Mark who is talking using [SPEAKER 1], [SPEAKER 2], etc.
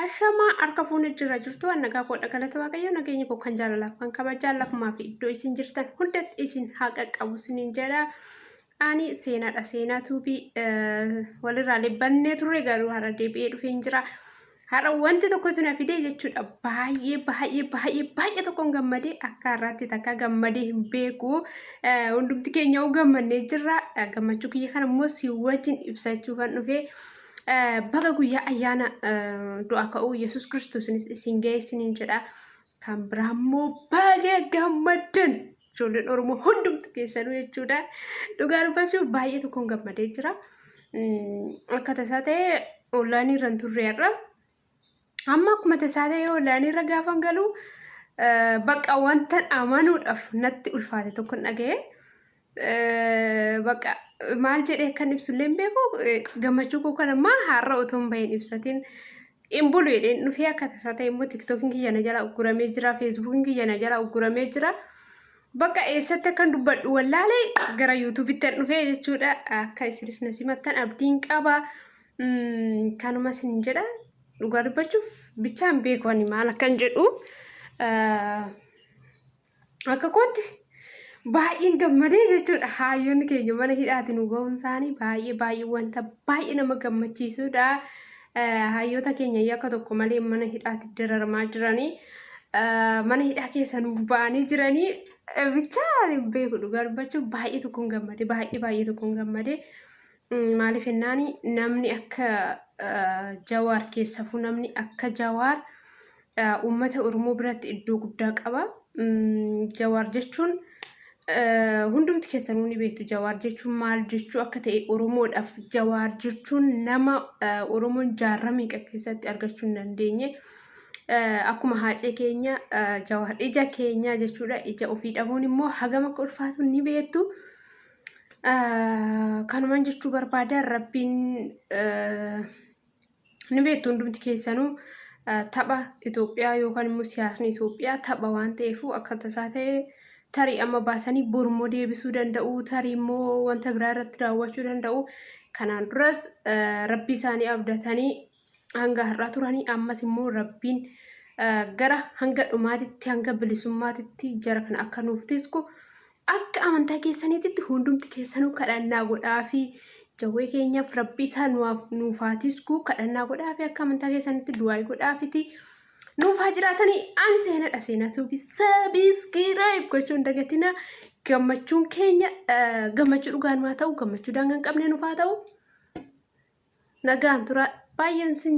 [SPEAKER 1] Ashamaa harka fuunee jira jirtu nagaa koodha galata waaqayyoo nageenya koo kan jaalalaaf kan kabajaa lafumaa fi iddoo isin jirtan hundatti isin haa qaqqabu isiniin jedha. Ani seenaadha seenaa tuubii walirraa libbannee turre garuu har'a deebi'ee dhufeen jira. Har'a wanti tokkotu na fide jechuudha. Baay'ee baay'ee baay'ee baay'ee tokkoon gammadee akka har'aatti takka gammadee hin beeku. Eh, Hundumti keenya yoo gammannee jirra. Eh, Gammachuu kiyya kana immoo si wajjin ibsachuu kan dhufe. Eh, Baga guyyaa ayyaana eh, du'a ka'uu Yesuus Kiristoosinis isin ga'e isiniin jedha. Kan biraa immoo baga gammaddan. Ijoolleen Oromoo hundumtu keessanuu jechuudha. Dhugaa dubbachuuf baay'ee tokkoon gammadee jira. Akka tasaa ta'e onlaayinii irra hin turre har'a. Amma akkuma tasaa ta'e onlaayinii irra gaafan galu bakka wanta amanuudhaaf natti ulfaate tokko dhaga'e. Bakka maal jedhee akkan ibsullee hin beeku gammachuu koo kan ammaa har'a otoo hin bahin ibsatiin Hin bulu jedheen dhufee akka tasaa ta'e immoo tiktokiin kiyya na jala ugguramee jira feesbuukiin kiyya na jala ugguramee jira. Bakka eessatti akkan dubbadhu wallaalee gara yuutuubitti an dhufee jechuudha akka isinis na simattan abdiin qaba. Kanuma sin jedha dhugaa dubbachuuf bichaan beeku ani maal akkan jedhu. Akka kootti baay'een gammadee jechuudha. Haayyoonni keenya mana hidhaati nu ba'uun isaanii baay'ee baay'ee wanta baay'ee nama gammachiisudha. Haayyoota keenya yakka tokko malee mana hidhaati dararamaa jiranii. Mana hidhaa keessa nuuf ba'anii jiranii. Bichaa beeku dhugaa dubbachuuf baay'ee tokkoon gammade baay'ee baay'ee tokkoon gammade. Maaliif jennaan namni akka Jawaar keessafuu namni akka Jawaar uummata Oromoo biratti iddoo guddaa qaba. Jawaar jechuun hundumti keessanuu ni beektu Jawaar jechuun maal jechuu akka ta'e Oromoodhaaf Jawaar jechuun nama Oromoon jaarraa meeqa keessatti argachuu hin dandeenye. Akkuma haacee keenya Jawaar ija keenyaa jechuudha. Ija ofii dhabuun immoo hagam akka ulfaatu ni beektu. Kanuman jechuu barbaada rabbiin ni beektu hundumti keessanuu tapha Itoophiyaa yookaan immoo siyaasni Itoophiyaa tapha waan ta'eefuu akka tasaa ta'e tarii amma baasanii bormoo deebisuu danda'u tarii immoo wanta biraa irratti daawwachuu danda'u kanaan duras rabbii isaanii abdatanii hanga har'aa turanii ammas immoo rabbiin gara hanga dhumaatitti hanga bilisummaatitti jara kana akka nuuf tisku akka amantaa keessaniititti hundumti keessanuu kadhannaa godhaa fi jawwee keenyaaf rabbi isaa nuuf haa tisku kadhannaa godhaa fi akka amantaa keessanitti du'aa'ii godhaa fiti nuuf haa jiraatanii ani seenadha seenaa tuubi sabiskiraayib gochuun dagatina gammachuun keenya gammachuu dhugaan maa ta'u gammachuu daangaa hin qabne nuuf haa ta'u nagaan tura baay'een sin